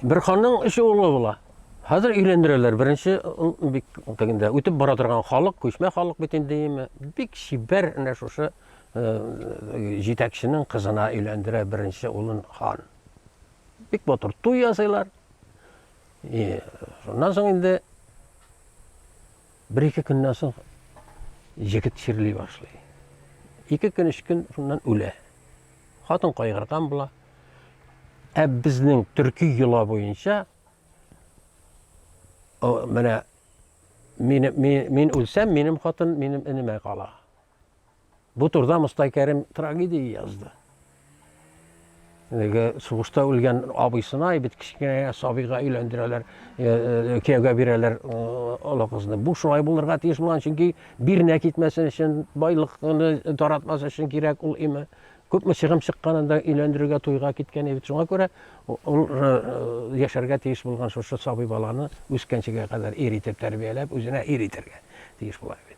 Бер ханның өч улы була. Хәзер өйләндерәләр. Беренче бик тегендә үтеп бара торган халык, күчмә халык бит инде име. Бик чибәр әнә шушы җитәкченең кызына өйләндерә беренче улын хан. Бик матур туй ясыйлар. И, шуннан соң инде бер ике көннән соң җегет чирли башлый. Ике көн, өч көн шуннан үлә. Хатын кайгырган була. Ә безнең төрки йола буенча менә мин, мин, мин үлсәм, минем хатын минем энемә кала. Бу турда Мостай Кәрим трагедия язды. Әлеге сугышта үлгән абыйсына бит кечкенә сабыйга өйләндерәләр, э, э, кияүгә бирәләр олы кызны. Бу шулай булырга тиеш булган, чөнки Бирнә китмәсен өчен, байлыкны таратмас өчен кирәк ул име. Күпме чыгым чыкканында өйләндерергә туйга киткән бит. Шуңа күрә ул э, яшәргә тиеш булган шушы сабый баланы үскәнчегә кадәр ир итеп тәрбияләп, үзенә ир итәргә тиеш була бит.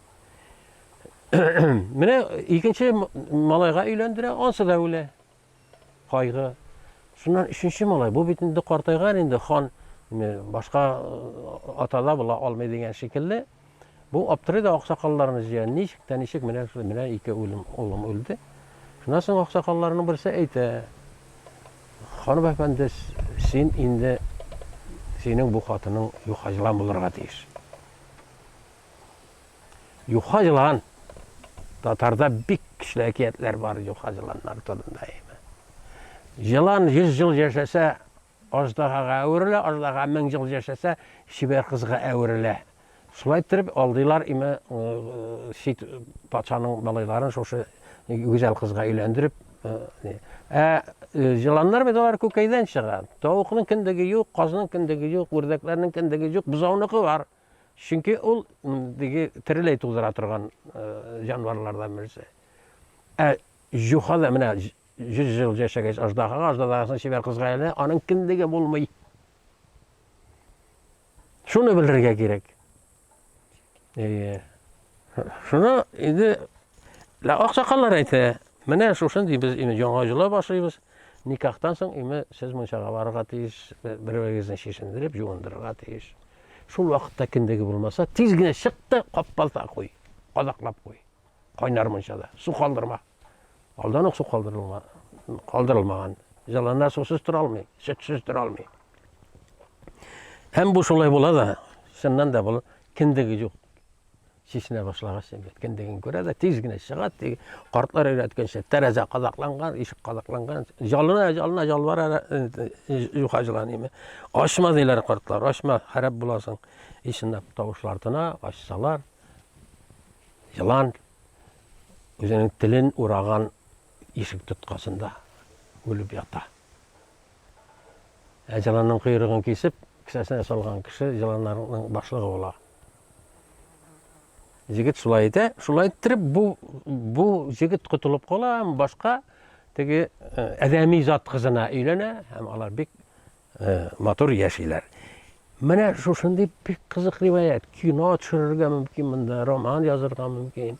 Менә икенче малайга өйләндерә, ансы да үлә. Кайгы. Шуннан өченче малай, бу бит инде картайган инде, хан башка атала була алмый дигән шикелле. Бу аптырый да аксакалларны җыя, ничек тә ничек менә шулай, менә ике үлем, улым үлде. Шуннан соң аксакалларның берсе әйтә, ханым әфәнде, син инде, синең бу хатының юхаҗлан булырга тиеш. Юха җылан. Татарда бик көчле әкиятләр бар юха җыланнар турында. Җылан 100 жыл яшәсә, аждаһага әверелә, аждаһа 1000 жыл яшәсә, чибәр кызга әверелә. Шулай итеп алдылар име сит патшаның малайларын шушы гүзәл кызга өйләндереп. Ә җыланнар бит алар күкәйдән чыга. Тавыкның кендеге юк, казның кендеге юк, үрдәкләрнең кендеге юк, бузауныкы бар. Чөнки ул теге тереләй тудыра торган җанварлардан берсе. Ә җуха да менә 100 ел яшәгәч аждаһага, аждаһасын чибәр кызга әйләнә, аның кендеге булмый. Шуны белергә кирәк. Шуны инде Лә аксакаллар әйтә, менә шушындый без име яңа җыла башлыйбыз, никахтан соң име сез мунчага барырга тиеш, берегезне чишендереп, юындырырга тиеш. Шул вакытта киндеге булмаса, тиз генә чык та каппалта куй, кадаклап куй. Кайнар мунчада, су калдырма. Алдан ук су калдырылма, калдырылмаган. Җыланнар сусыз тора алмый, сөтсез тора алмый. Һәм бу шулай була да, чыннан да бул киндеге юк. Чишенә башлагач, кендеген күрә дә, тиз генә чыга. Картлар өйрәткәнчә, тәрәзә кадакланган, ишек кадакланган. Жалына, жалына, жалбара, юха җыланыймы. Ачма диләр картлар, ачма, харап буласың. Ишенә тавышлар тына, ачсалар. Җылан үзенең телен ураган ишек тоткасында үлеп ята. Ә җыланның койрыгын кисеп, кесәсенә салган кеше җыланнарның башлыгы була. Җегет шулай әйтә, шулай иттереп бу бу җегет котылып кала, һәм башка теге э, адәми зат кызына өйләнә һәм алар бик э, матур яшиләр. Менә шушындый бик кызык риваять. Кино төшерергә мөмкин монда, роман язырга мөмкин.